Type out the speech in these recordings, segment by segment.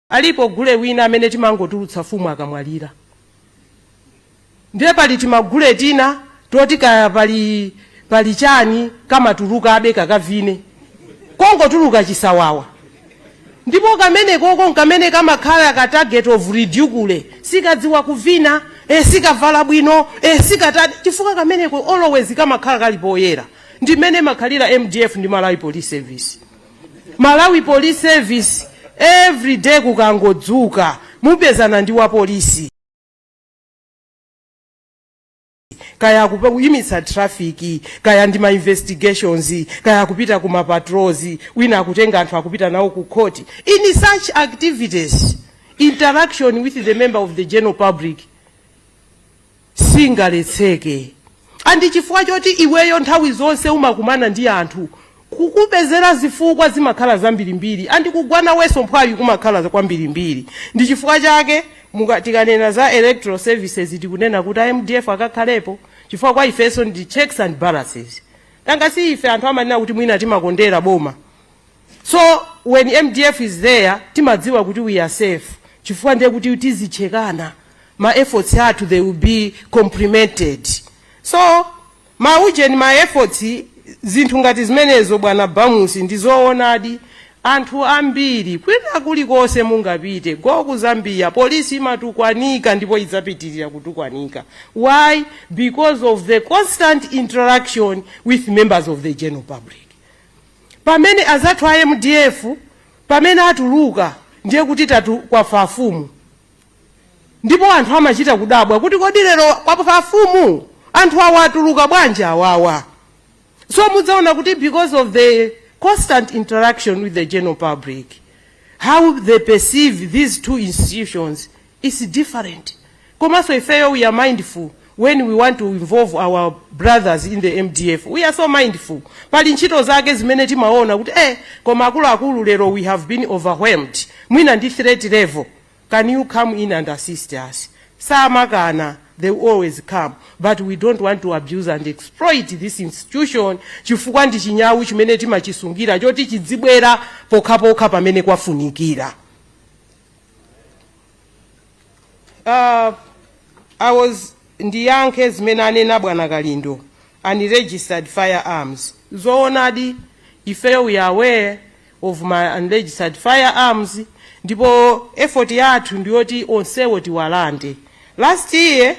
Alipo gule wina amene timangotulutsa fumu akamwalira. Ndiye pali timagule tina toti kaya pali chani kamatulukabe kakavine kongotuluka chisawawa ndipo kamene koko nkamene kamakhala ka target of ridicule sikadziwa kuvina e, sikavala bwino e, sikatani chifukwa kameneko always kamakhala kali poyera ndi mmene imakhalira mdf ndi malawi police service malawi police service every day kukangodzuka mupezana ndi wapolisi kaya akuyimitsa traffic kaya ndi ma investigations kaya akupita ku ma patrols wina akutenga anthu akupita nawo ku court in such activities interaction with the member of the general public singaletseke andi chifukwa choti iweyo nthawi zonse umakumana ndi anthu kukupezera zifukwa zimakhala zambirimbiri andi kugwa nawenso mphwayi kumakhala kwambirimbiri ndi chifukwa chake muka- tikanena za electoral services tikunena kuti a mdf akakhalepo chifukwa kwa ifenso ndi checks and balances nanga si ife anthu amanena kuti mwina timakondera boma So when mdf is there timadziwa kuti we are safe chifukwa ndiye kuti tizichekana ma efforts athu they will be complemented so maujeni ma efforts zinthu ngati zimenezo bwana bamusi ndizoonadi anthu ambiri kwina kulikonse mungapite go ku zambia polisi imatukwanika ndipo idzapitirira kutukwanika why because of the constant interaction with members of the general public Pamene azathu a mdf pamene atuluka ndiye kuti tatu kwafa afumu ndipo anthu amachita kudabwa kuti kodi lero kwafa afumu anthu awa atuluka bwanji awawa so mudzaona kuti because of the constant interaction with the general public how they perceive these two institutions is different komaso ifeyo we are mindful when we want to involve our brothers in the mdf we are so mindful pali ntchito zake zimene timaona kuti eh koma akuluakulu lero we have been overwhelmed mwina ndi threat level can you come in and assist us samakana they will always come but we don't want to abuse and exploit this institution chifukwa ndi chinyawu chimene timachisungira choti chidzibwera pokhapokha pamene kwafunikira uh, I was ndiyankhe zimene anena bwana kalindo unregistered firearms zoonadi ifeyo we are aware of ma unregistered firearms ndipo effort yathu ndiyoti onsewo tiwalande last year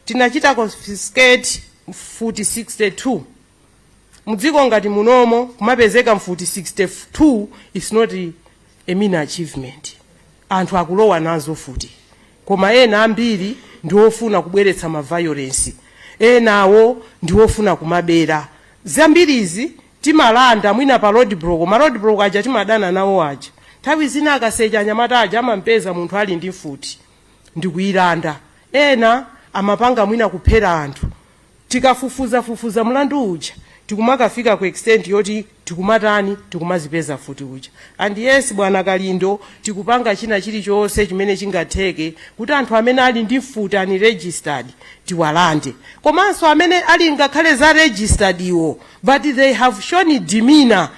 tinachita confiscate mfuti 62 Mdziko ngati munomo kumapezeka mfuti 62 is not a mean achievement. Anthu akulowa nazo mfuti koma ena ambiri ndiwofuna kubweretsa ma violence, enawo ndiwofuna kumabera. Zambirizi timalanda mwina pa roadblock, ma roadblock aja timadana nawo aja. Nthawi zina akasecha anyamata aja amampeza munthu ali ndi mfuti ndikuyilanda. Ena amapanga mwina kuphera anthu. tikafufuzafufuza mlandu uja tikumakafika ku extent yoti tikumatani tikumazipeza mfuti zija and yes bwana kalindo tikupanga china chilichonse chimene chingatheke kuti anthu amene ali ndi mfuti unregistered tiwalande komanso amene ali ngakhale za registered iwo but they have shown demeanor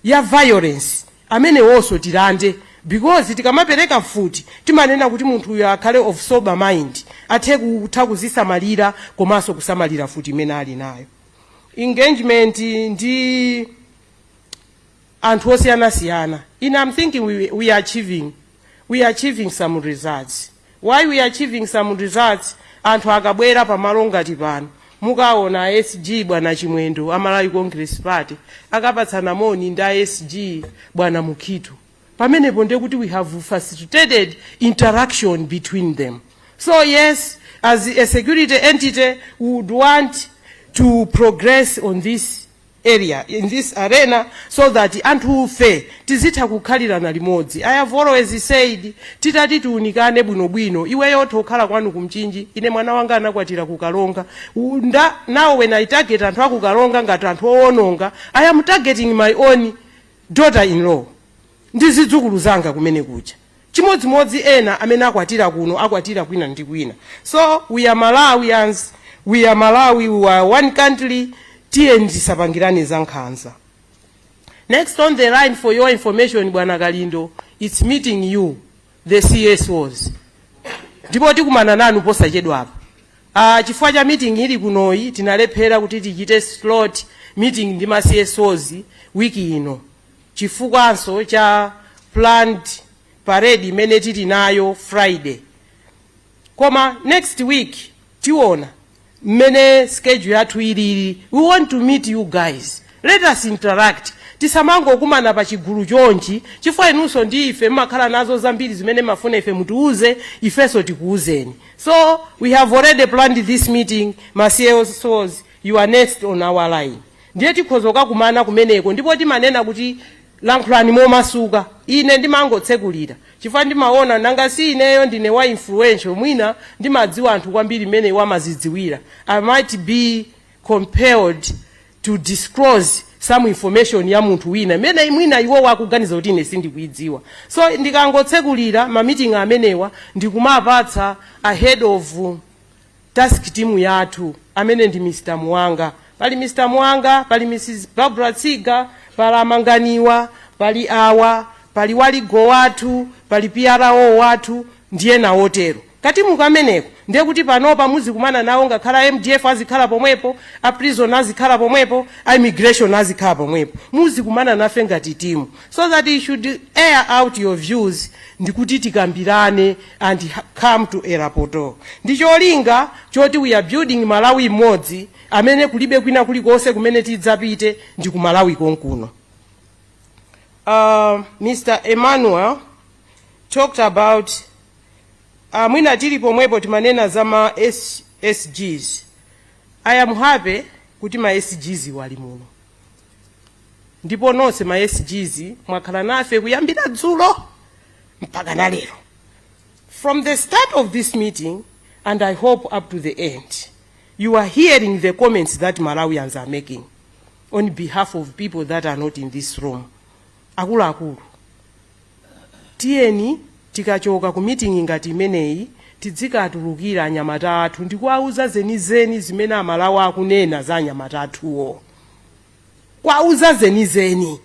ya violence amenewonso tilande because tikamapereka mfuti timanena kuti munthu uyo akhale of sober mind athe kutha kuzisamalira komanso kusamalira mfuti imene ali nayo engagement ndi anthu osiyanasiyana I am thinking we, we are achieving we are achieving some results why we are achieving some results anthu akabwera pamalo ngati pano mukaona a sg bwana chimwendo a malawi congress party akapatsana moni ndi a sg bwana mukhito pamenepo ndiye kuti we have facilitated interaction between them so yes as a security entity we would want to progress on this area in this arena so that anthufe tizitha kukhalirana limodzi. I have always said titati tiunikane bwinobwino iweyo utha kukhala kwanu ku Mchinji ine mwana wanga anakwatira ku Karonga and now when I target anthu aku Karonga ngati anthu owononga I am targeting my own daughter in law ndi zidzukulu zanga kumene kuja. chimodzimodzi ena amene akwatira kuno akwatira kwina ndi kwina so we are malawians we are malawi we are one country tiyeni tisapangirane za nkhanza next on the line for your information bwana kalindo its meeting you the csos ndipo tikumana nanu posachedwapa uh, chifukwa cha meeting ili kunoyi tinalephera kuti tichite slot meeting ndi ma csos wiki ino chifukwanso cha planned parade imene tili nayo friday koma next week tiona mmene schedule yathu ilili we want to meet you guys let us interact tisamangokumana pa chigulu chonchi chifukwa inunso ndi ife mmakhala nazo zambiri zimene mafuna ife mutiuze ifenso tikuuzeni so we have already planned this meeting ma csos you are next on our line Ndiye tikhoza kakumana kumeneko, ndipo timanena kuti, Lankhulani momasuka. Ine ndimangotsekulira, chifukwa ndimawona, nanga si ineyo ndine wa influential, mwina ndimadziwa anthu kwambiri mmene iwo amazidziwira, I might be compelled to disclose some information ya munthu wina imene mwina iwowo akuganiza kuti ine sindikuidziwa. So, ndikangotsekulira ma meeting amenewa ndi kumapatsa a head of. task team yathu amene ndi Mr Muwanga pali Mr Muwanga pali Mrs Barbara Tsiga pali Amanganiwa pali awa pali wa legal wathu pali PRO wathu ndiye ndawo atero katimu kameneko ndiye kuti panopa muzikumana nawo ngakhale MDF azikhala pomwepo a prison azikhala pomwepo a immigration azikhala pomwepo muzikumana nafe ngati timu so that you should air out your views ndikuti tikambirane and come to a rapport ndi cholinga choti we are building Malawi m'modzi amene kulibe kwina kulikonse kumene tidzapite ndi ku Malawi konkuno. Uh, Mr. Emmanuel talked about uh, mwina tili pomwepo timanena za ma SGs. I am happy kuti ma SGs ali muno. ndipo nonse ma SGs mwakhala nafe kuyambira dzulo mpaka na lero from the start of this meeting and i hope up to the end you are hearing the comments that malawians are making on behalf of people that are not in this room akuluakulu tiyeni tikachoka ku meeting ngati imeneyi tidzikatulukira anyamata athu ndikuwauza zenizeni zimene amalawi akunena za anyamata athuwo kuwauza zenizeni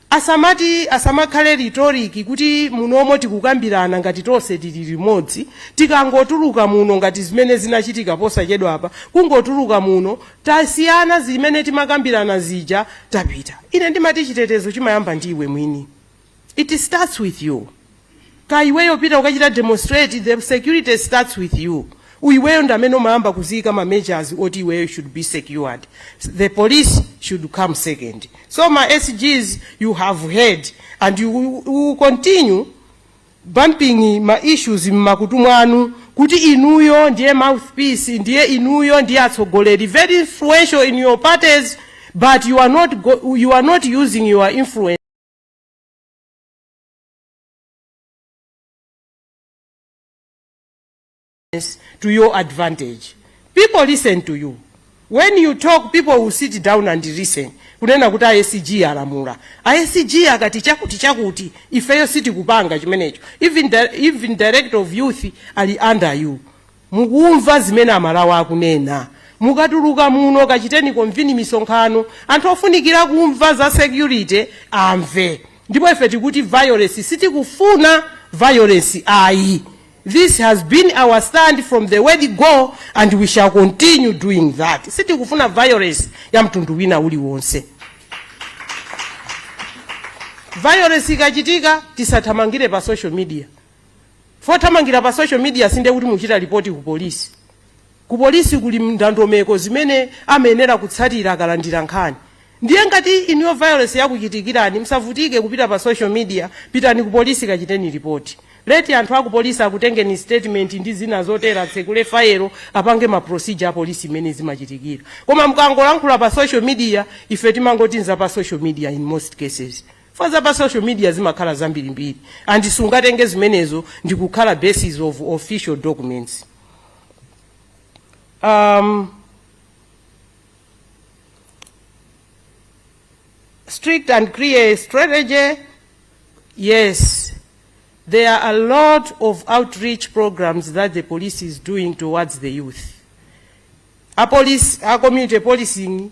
asamati asamakhale rhetoric kuti munomo tikukambirana ngati tonse tili limodzi tikangotuluka muno ngati zimene zinachitika posachedwapa kungotuluka muno tasiyana zimene timakambirana zija tapita ine ndimati chitetezo chimayamba ndi iwe mwini It starts with you. Kaya iweyo upita ukachita demonstrate the security starts with you. Iweyo ndi amene umayamba kuziyika ma measures oti iweyo should be secured. The police should come second. So ma SGs you have heard and you will continue bumping ma issues mmakutu mwanu kuti inuyo ndiye mouthpiece ndiye inuyo ndiye atsogoleri very influential in your parties but you are not, go, you are not using your influence to your advantage people listen to you when you talk people will sit down and listen kunena kuti asg alamula asg akati chakuti chakuti ifeyo sitikupanga chimenecho even, di even director of youth ali under you Mukumva zimene Amalawi akunena? Mukatuluka muno kachiteni convene misonkhano anthu ofunikira kumva za security amve ndipo ife tikuti violence sitikufuna violence ayi this has been our stand from the word go and we shall continue doing that sitikufuna violence ya mtundu wina uliwonse violence ikachitika tisathamangire pa social media Pothamangira pa social media sindiye kuti muchita lipoti kupolisi. Ku polisi kuli ndondomeko zimene amayenera kutsatira akalandira nkhani. Ndiye ngati inuyo violence yakuchitikirani musavutike kupita pa social media pitani ku polisi kachiteni lipoti. Let anthu aku polisi akutengeni statement ndi zina zotero atsekule file apange ma procedure a polisi mmene zimachitikira. Koma mukangolankhula pa social media ife timangoti n'za pa social media in most cases. chifukwa za pa social media zimakhala zambirimbiri and sungatenge zimenezo ndi kukhala basis of official documents um, strict and clear strategy yes there are a lot of outreach programs that the police is doing towards the youth a polisi a community policing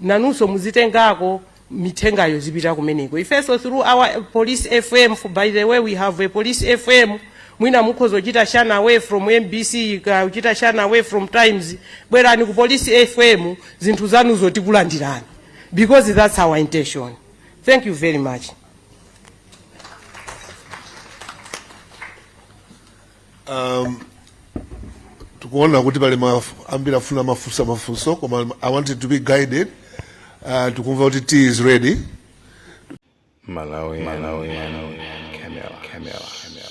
nanunso muzitengako mithengayo zipita kumeneko ifenso through our police fm for by the way we have a police fm mwina mukhoza kuchita shun away from mbc ka- kuchita shun away from times bwerani ku police fm zinthu zanuzo tikulandirani because that's our intention thank you very much Um, tikuona kuti pali maf- ambiri akufuna mafunso mafunso koma i wanted to be guided uh, tikumva kuti tea is ready Malawi, Malawi, Malawi, Camera, Camera, Camera.